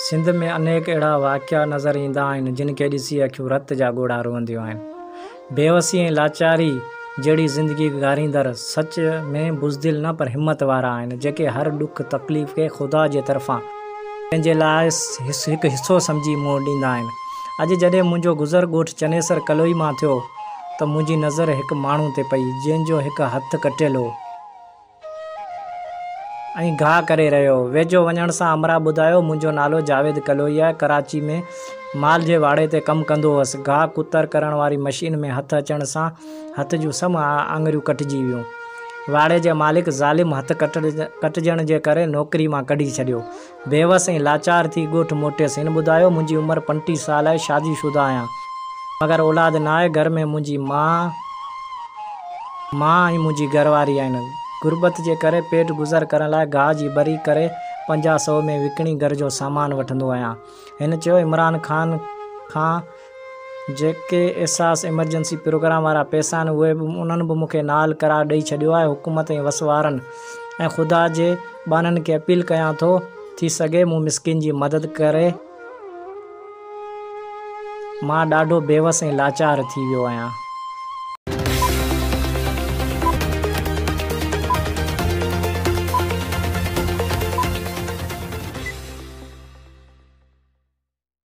سنڌ ۾ انيڪ اهڙا واقعا نظر ايندا آهن جن کي ڏسي اکيون رت جا ڳوڙها روئنديون آهن. بيوسي ۽ لاچاري جهڙي زندگي گهاريندڙ سچ ۾ بزدل نه پر همت وارا آهن جيڪي هر ڏک تڪليف کي خدا جي طرفان پنهنجي لاء هڪ حصو سمجهي منهن ڏيندا آهن. اڄ جڏهن منهنجو گذر ڳوٺ چنيسر ڪلوئي مان ٿيو ته منهنجي نظر هڪ ماڻهو تي پئي جنهن جو هڪ هٿ ڪٽيل هو. ۽ گاهه ڪري رهيو هو. ويجهو وڃڻ سان امرا ٻڌايو، منهنجو نالو جاويد ڪلوئي آهي، ڪراچي ۾ مال جي واڙي تي ڪم ڪندو هوس. گاهه ڪتر ڪرڻ واري مشين ۾ هٿ اچڻ سان هٿ جون سڀ آڱريون ڪٽجي ويون. واڙي جي مالڪ ظالم هٿ ڪٽجڻ جي ڪري نوڪري مان ڪڍي ڇڏيو. بيوس ۽ لاچار ٿي ڳوٺ موٽيس. هن ٻڌايو، منهنجي عمر پنٽيهه سال آهي، شادي شده آهيان، مگر اولاد نه آهي، گهر ۾ منهنجي ماء، مان ۽ منهنجي گهر واري آهن. غربت جي ڪري پيٽ گذر ڪرڻ لاء گاهه جي ٻري ڪري پنجاهه سئو ۾ وڪڻي گهر جو سامان وٺندو آهيان. هن چيو، عمران خان کان. جيڪي احساس ايمرجنسي پروگرام وارا پئسا آهن اهي به انهن به مون کي نال قرار ڏئي ڇڏيو آهي حڪومت ۽ وس وارن ۽ خدا جي ٻانهن کي اپيل ڪيان ٿو ٿي سگهي مون مسڪين جي مدد ڪري مان ڏاڍو بيوس ۽ لاچار ٿي ويو آهيان.